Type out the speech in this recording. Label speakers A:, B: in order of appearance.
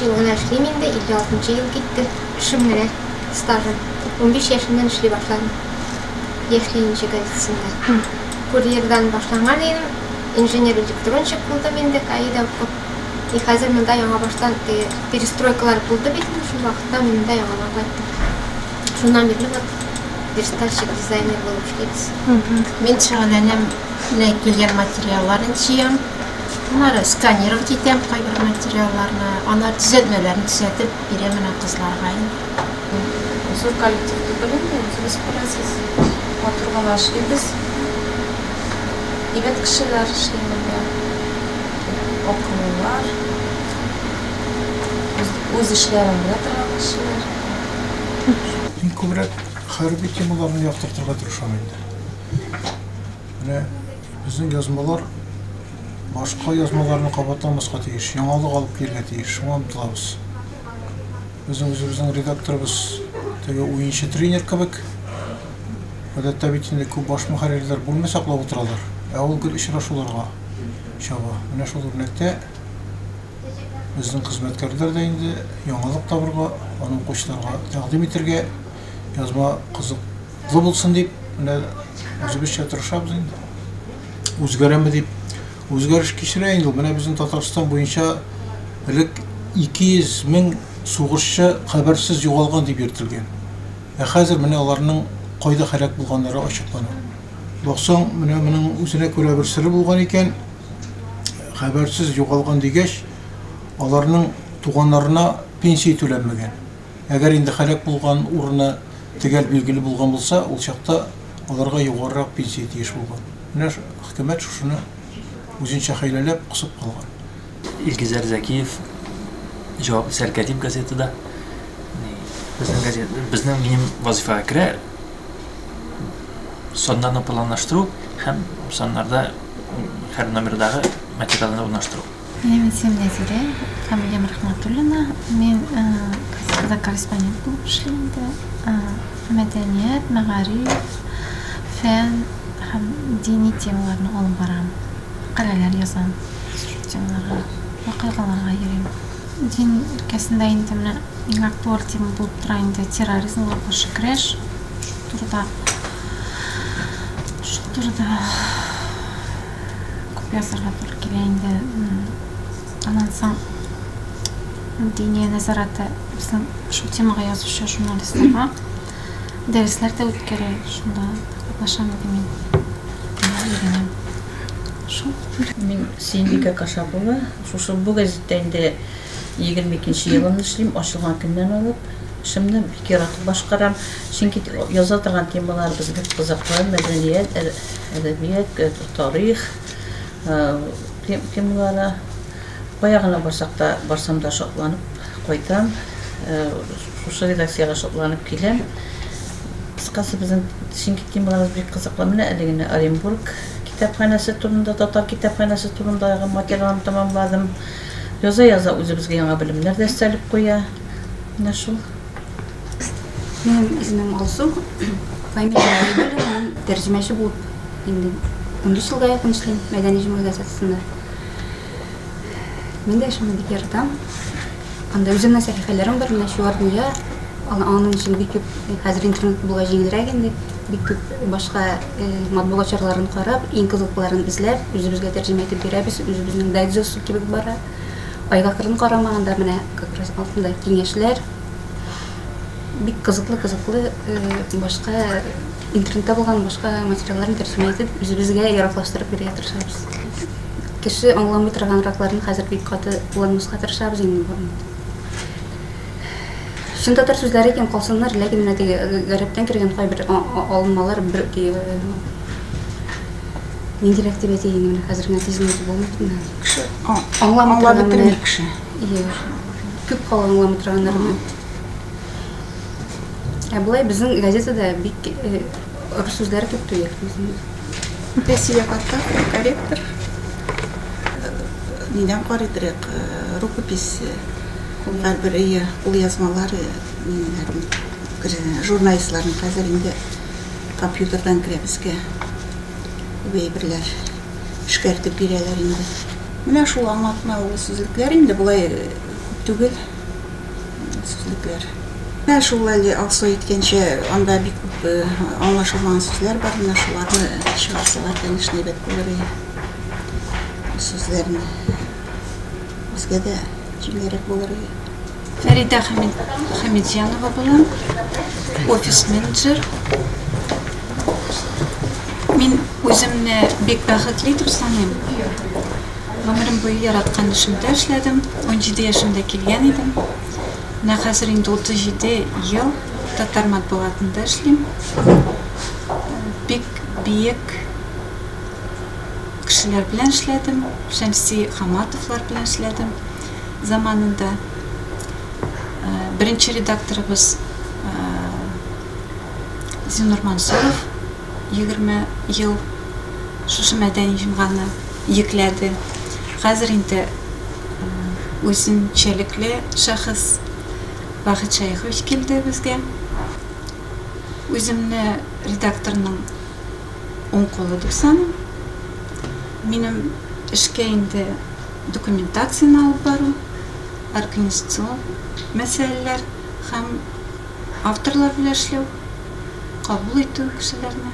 A: Биш ел гына эшлим инде, 56 нчы ел китте, эшем менә, стажым. Унбиш яшемнән эшли башладым, Яшь ленинчы газетасында. Курьердан башланган идем, инженер-электронщик булдым инде, КАИда укып. И хәзер монда яңабаштан, теге перестройкалар булды бит инде шул вакытта, мин монда яңадан кайттым. Шуннан бирле вот верстальщик, дизайнер булып эшлибез. Мин шөгыльләнәм,
B: менә килгән материалларны җыям. Аннары сканировать итәм кайбер материалларны, аннары төзәтмәләрне төзәтеп бирәм менә кызларга инде.
C: Зур коллектив түгел инде, үзегез күрәсез, матур гына эшлибез. Егет кешеләр эшли монда, акыллылар, үз эшләрен белә торган кешеләр.
D: Мин күбрәк хәрби темаларны яктыртырга тырышам инде. Менә безнең язмалар башка язмаларны кабатламаска тиеш, яңалык алып килергә тиеш, шуңа омтылабыз. Безнең үзебезнең редакторыбыз теге уенчы тренер кебек. Гадәттә бит инде күп баш мөхәррирләр бүлмә саклап утыралар, ә ул гел очрашуларга чаба. Менә шул үрнәктә безнең хезмәткәрләр дә инде яңалык табырга, аны укучыларга тәкъдим итәргә, язма кызык Ныклы булсын дип, менә үзебезчә тырышабыз инде. Үзгәрәме дип, үзгәреш кичерә инде. Менә безнең Татарстан буенча элек 200 мең сугышчы хәбәрсез югалган дип йөртелгән. Ә хәзер менә аларның кайда һәлак булганнары ачыклана. Баксаң, менә моның үзенә күрә бер сыры булган икән. Хәбәрсез югалган дигәч, аларның туганнарына пенсия түләнмәгән. Әгәр инде һәлак булган урыны төгәл билгеле булган булса, ул чакта аларга югарырак пенсия тиеш булган. Менә хөкүмәт шушыны үзенчә хәйләләп кысып калган. Илгизәр
E: Зәкиев җавап исәр Кәдим газетада безнең газет, безнең минем вазифага керә саннарны планлаштыру һәм саннарда һәр номердагы материалны урнаштыру. Минем исемем
F: Нәзирә, фамилиям Рахматуллина. Мин газетада корреспондент булып эшлим инде. Мәдәният, мәгариф, фән һәм дини темаларны алып барам. Мәкаләләр язам шул темаларга, вакыйгаларга йөрим. Дин өлкәсендә инде менә иң актуаль тема булып тора инде терроризмга каршы көрәш турыда. Шул турыда Күп язарга туры килә инде. Аннан соң Диния нәзарәте безнең шул темага язучы журналистларга дәресләр дә үткәрә, шунда катнашам иде мин. Өйрәнәм.
G: Шул. Мин Сөембикә Кашапова. Шушы бу газеттә инде 22 елымны эшлим, ачылган көннән алып. Эшемне бик яратып башкарам, чөнки яза торган темаларыбыз бик кызыклы, мәдәният, әдәбият, тарих, темалары. Кая гына барсак та, барсам да шатланып кайтам. Шушы редакциягә шатланып киләм. Кыскасы, безнең чөнки темаларыбыз бик кызыклы. Менә әле генә Оренбург китапханәсе турында, татар китапханәсе турындагы материалны тәмамладым. Яза-яза үзебезгә яңа белемнәр дә өстәлеп куя. Менә шул.
H: Минем исемем Алсу, фамилия Гайбуллина, мин тәрҗемәче булып инде 13 елга якын эшлим мәдәни җиңү газетасында. Мин дә шуны бик яратам. Анда үземнең сәхифәләрем бар, менә шулар дөнья. Аның өчен бик күп хәзер интернет булуга җиңелрәк инде. Бик күп башка э, матбугат чараларын карап, иң кызыклыларын эзләп, үзебезгә тәрҗемә итеп бирәбез. Үзебезнең дайджест кебек бара. Айга кырын карамаганда менә как раз алтындай киңәшләр бик кызыклы кызыклы э, башка интернетта булган башка материалларын тәрҗемә итеп үзебезгә яраклаштырып бирергә тырышабыз кеше аңламый торганракларын хәзер бик каты кулланмаска тырышабыз инде барын чын татар сүзләре икән калсыннар ләкин менә теге гарәптән кергән кайбер алынмалар бер ниндирәк дип әйтәйен менә хәзер генә тизмәтеп булмый Кеше аңламый торган кеше. Күп кала аңламый торганнарны. Ә болай безнең газетада бик э, рус сүзләре күп түгел. Пенсия
I: карта, корректор. Нидән карый дирек, э, рукопись, э, һәрбер ия, ул язмалар, журналистларның хәзер инде компьютердан керә безгә. Бәйберләр. эшкәртеп бирәләр инде. Менә шул аңлатма ул сүзлекләр инде болай күп түгел сүзлекләр. Менә шул әле Алсу әйткәнчә анда бик күп аңлашылмаган сүзләр бар, менә шуларны чыгарсалар, конечно, әйбәт булыр иде. Сүзләрне үзгә дә җиңелрәк булыр иде. Фәридә
J: Хәмитҗанова булам, офис-менеджер. Мин үземне бик бәхетле итеп саныйм. Гомерем буе яраткан эшемдә эшләдем, 17 яшемдә килгән идем. Менә хәзер инде 37 ел татар матбугатында эшлим. Бик биек кешеләр белән эшләдем, Шәмси Хаматовлар белән эшләдем. заманында беренче редакторыбыз Зинур Мансуров 20 ел шушы мәдәни җомганы йөкләде. Хәзер инде үзенчәлекле шәхес Бахет Шәехович килде безгә. Үземне редакторның уң кулы дип саныйм. Минем эшкә инде документацияне алып бару, организацион мәсьәләләр һәм авторлар белән эшләү, кабул итү кешеләрне.